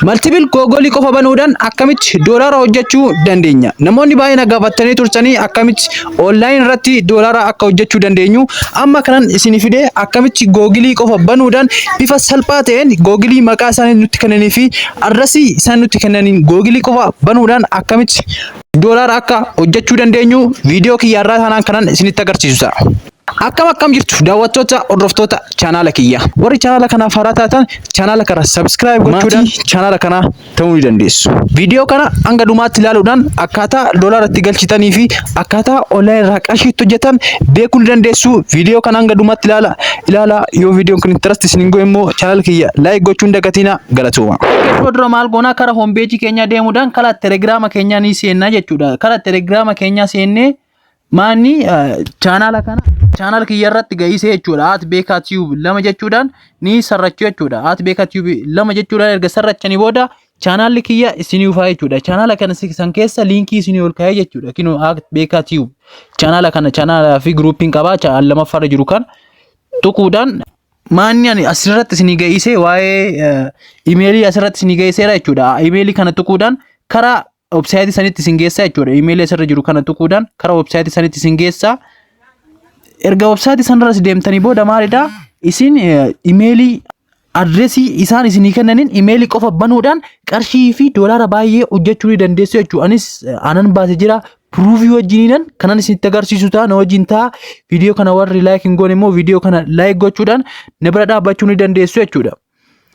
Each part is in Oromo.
Maltibil googolii qofa banuudhaan akkamitti doolaara hojjechuu dandeenya? Namoonni baay'ee na gaafattanii turtanii akkamitti online irratti doolaara akka hojjechuu dandeenyu amma kanan isin fide akkamitti googilii qofa banuudhaan bifa salphaa ta'een googilii maqaa isaanii nutti kennanii fi adresii isaan nutti kennaniin googilii qofa banuudhaan akkamitti doolaara akka hojjechuu dandeenyu viidiyoo kiyyaarraa kanaan kanan isinitti agarsiisu ta'a. Akkam akkam jirtu daawwattoota hordoftoota chaanaala kiyya. Warri chaanaala kanaaf haaraa taatan chaanaala kana subscribe gochuudhaan chaanaala kanaa ta'uu ni dandeessu. Viidiyoo kana hanga dhumaatti ilaaluudhaan akkaataa doolaara itti galchitanii fi akkaataa online irraa qarshii itti hojjetan beekuu ni dandeessu. Viidiyoo kana hanga dhumaatti ilaala. Ilaala yoo viidiyoon kun interest isin hin godhe immoo chaanaala kiyya like gochuun dagatiina galatooma. Yeroo dura maal goonaa kara hombeejii keenyaa deemuudhaan kara telegiraama keenyaa ni seennaa jechuudha. Kara telegiraama keenyaa seennee Maanni chaanaala kana chaanaal kiyya irratti ga'isee jechuudha. At beekaa tiyuub lama jechuudhaan ni sarrachu jechuudha. At beekaa tiyuub lama jechuudhaan erga sarrachanii booda chaanaalli kiyya isinii dhufaa jechuudha. Chaanaala kana san keessa liinkii isinii ol kaa'ee jechuudha. Kinoo at beekaa tiyuub chaanaala kana chaanaalaa fi giruupiin qabaa chaanaal lammaffaarra jiru kan tuquudhaan maanni ani asirratti isinii ga'isee waa'ee imeelii asirratti isinii ga'iseera jechuudha. Imeelii kana tuquudhaan karaa website sanitti isin geessaa jechuudha email asirra jiru kana tuquudhaan kara website sanitti isin geessaa erga website sanarra si deemtanii booda maalidha isin imeelii adresii isaan isinii kennaniin imeelii qofa banuudhaan qarshii fi doolaara baay'ee hojjechuu ni dandeessu jechuudha anis anan baase jira piruuvii wajjiniinan kanan isinitti agarsiisu ta'a na wajjin ta'a viidiyoo kana warri laayik hin goone immoo viidiyoo kana laayik gochuudhaan na bira dhaabbachuu ni dandeessu jechuudha.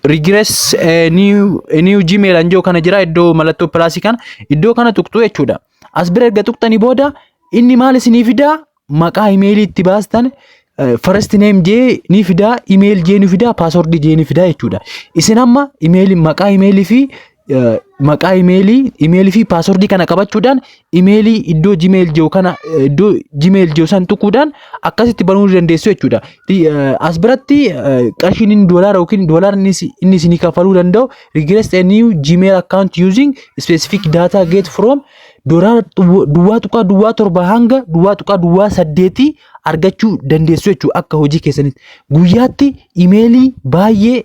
regress eh, new, eh, new gmail anjoo kana jira iddoo mallattoo pilaasii kana iddoo kana tuqxu jechuudha as bira erga tuqxanii booda inni maal isinii fidaa maqaa imeelii itti baastan eh, first name jee ni fidaa email jee ni fidaa password jee ni fidaa jechuudha isin amma imeelii maqaa imeelii fi maqaa imeelii imeelii fi paaswordii kana qabachuudhaan imeelii iddoo gmail jiru kana iddoo gmail jiru san tuquudhaan akkasitti banuu ni dandeessu jechuudha. As biratti qarshiin inni doolaara yookiin doolaara inni isinii kaffaluu danda'u regress a new gmail account using specific data get from doolaara duwwaa tuqaa duwwaa torba hanga duwwaa tuqaa duwwaa saddeetii argachuu dandeessu jechuudha akka hojii keessanitti. Guyyaatti imeelii baay'ee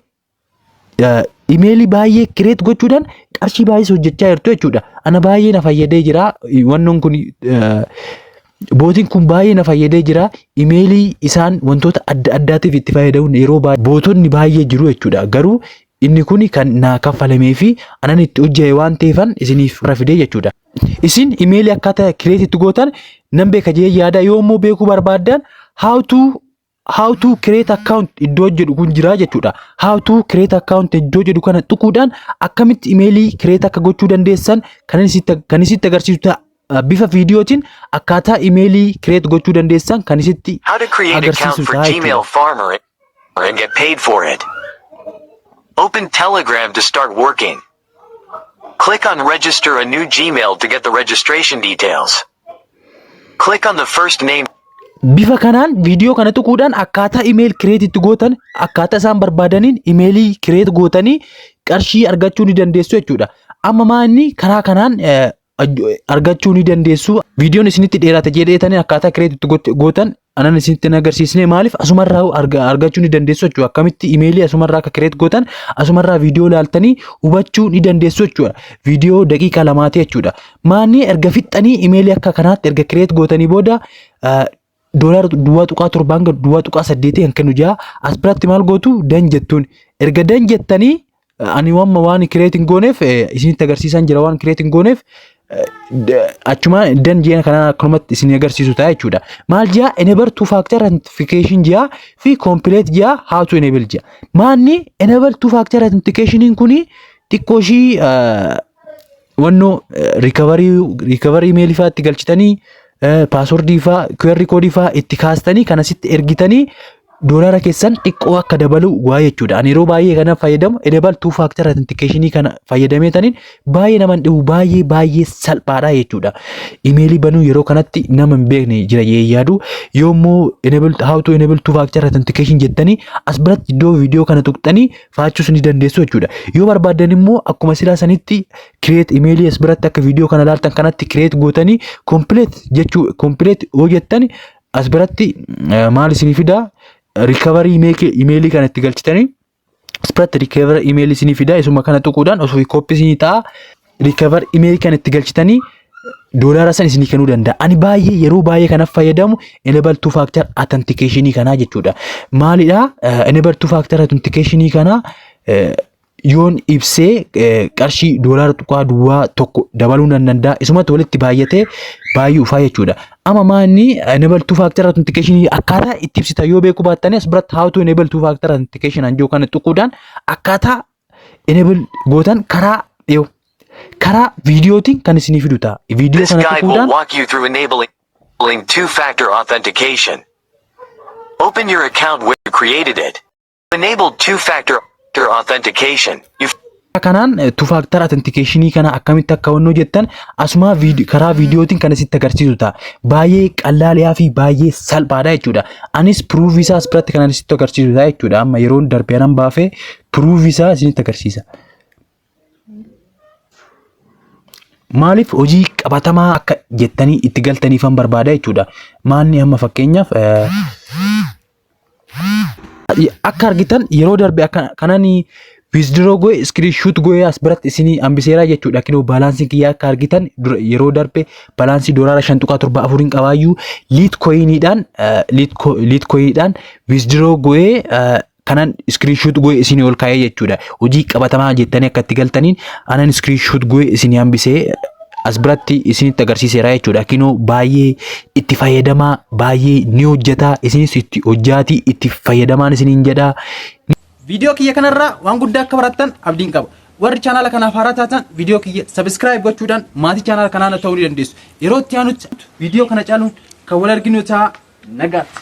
imeelii baay'ee kireet gochuudhaan qarshii baay'ees hojjechaa jirtu jechuudha. Ana baay'ee na fayyadee jira wannoon kun bootiin kun baay'ee na fayyadee jira imeelii isaan wantoota adda addaatiif itti fayyadamuun yeroo baay'ee bootonni baay'ee jiru jechuudha garuu inni kun kan naa kaffalamee fi anan itti hojja'e waan ta'eefan isiniif irra fidee jechuudha. Isin imeelii akkaataa kireetitti gootan nan beeka jee yaada yoo immoo beekuu barbaaddan how to how to create account iddoo jedhu kun jira jechuudha. How to create account iddoo jedhu kana tuquudhaan akkamitti imeelii create akka gochuu dandeessan kan isitti kan isitti agarsiisu ta'a. Uh, bifa viidiyootiin akkaataa imeelii create gochuu dandeessan kan isitti How to create account agarsiisu for ta'a Gmail jechuudha. Farmer and get paid for it. Open Telegram to start working. Click on Register a new Gmail to get the registration details. Click on the first name. Bifa kanaan viidiyoo kana tuquudhaan akkaataa email create itti gootan akkaataa isaan barbaadaniin imeelii create gootanii qarshii argachuu ni dandeessu jechuudha. Amma maa inni karaa kanaan argachuu ni dandeessu. Viidiyoon isinitti dheerate jedheetanii akkaataa kireetitti gootan anan isinitti hin agarsiisne maaliif asumarraa argachuu ni dandeessu jechuudha. Akkamitti imeelii asumarraa akka kireet gootan asumarraa viidiyoo ilaaltanii hubachuu ni dandeessu jechuudha. Viidiyoo daqiiqaa lamaati jechuudha. Maanni erga fixxanii imeelii akka kanaatti erga kireet gootanii booda doolaara duwwaa tuqaa torbaa hanga duwwaa tuqaa saddeetii kan kennu jira. As biratti maal gootu dan jettuun. Erga dan jettanii ani wamma waan kireet hin gooneef isinitti agarsiisaan jira waan kireet hin gooneef achuma dan ji'a kanaan akkanumatti isin agarsiisu ta'a jechuudha. Maal ji'a enable two factor authentication ji'a fi complete ji'a how to enable ji'a. Maanni enable two factor authentication kuni xiqqoo ishii wannoo riikabarii imeelii fa'aa itti galchitanii paaswordii fa'aa QR koodii fa'aa itti kaastanii kan asitti ergitanii doolaara keessan xiqqoo akka dabalu waa jechuudha. Ani yeroo baay'ee kana fayyadamu edebal tuu faaktar atintikeeshinii kana fayyadamee taniin baay'ee nama hin dhibu baay'ee baay'ee salphaadha jechuudha. Imeelii banuu yeroo kanatti nama hin beekne jira jee yaadu yoommoo how to enable two factor authentication jettanii as biratti iddoo viidiyoo kana tuqxanii faachuus ni dandeessu jechuudha. Yoo barbaaddan immoo akkuma silaa sanitti create email as biratti akka viidiyoo kana ilaaltan kanatti create gootanii complete jechuu complete yoo jettan as biratti eh, maal isinii fidaa recovery email kana itti galchitanii as biratti recovery email isinii fidaa isuma kana tuquudhaan osoo kooppi isinii ta'a recover email kan itti galchitanii doolaara san isinii kennuu danda'a. Ani baay'ee yeroo baay'ee kan fayyadamu enable two factor authentication kanaa jechuudha. Maalidha enable two factor authentication kanaa yoon ibsee qarshii doolaara tuqaa duwwaa tokko dabaluu nan danda'a. Isumatti walitti baay'atee baay'ee ufaa jechuudha. Amma maanni enable two factor authentication akkaataa itti ibsitan yoo beekuu baattan as biratti how to enable two factor authentication an jiru kana tuquudhaan akkaataa enable gootan karaa yoo karaa viidiyootiin kan isinii fidu ta'a. Viidiyoo This kana guide will tuquudhaan walk you through enabling two-factor authentication. Open your account where you created it. To enable two-factor authentication, you kanaan tufaaktar atentikeeshinii kana akkamitti akka honnoo jettan asumaa viidi- karaa viidiyootiin kan isitti agarsiisu ta'a. Baay'ee qallaaliyaa fi baay'ee salphaadha jechuudha. Anis piruufii isaas biratti kan isitti agarsiisu ta'a jechuudha. Amma yeroon darbe anan baafee Proof isaa isinitti agarsiisa. Maaliif hojii qabatamaa akka jettanii itti galtaniifan barbaada jechuudha. Maalni amma fakkeenyaaf eh, akka argitan yeroo darbe akka kanan withdraw goe screenshot goe as biratti isinii hambiseeraa jechuudha kinoo baalaansiin kiyyaa akka argitan dura- yeroo darbe baalaansii doolaara 5.74 hin qabaayyuu liit koyiniidhaan liit koyiniidhaan withdraw goe kanan screenshot goe isinii ol kaa'ee jechuudha. Hojii qabatamaa jettanii akka itti galtaniin anan screenshot goe isinii hambisee as biratti isinitti agarsiiseera jechuudha. Kinoo baay'ee itti fayyadamaa baay'ee ni hojjetaa isinis itti hojjaatii itti fayyadamaan isiniin jedhaa. Viidiyoo kiyya kanarraa waan guddaa akka barattan abdiin qaba. Warri chaanaala kanaaf haaraa taatan viidiyoo kiyya sabiskiraayib gochuudhaan maatii chaanaala kanaa na ta'uu ni dandeessu. Yeroo itti aanutti viidiyoo kana caaluun kan wal arginu ta'a nagaatti.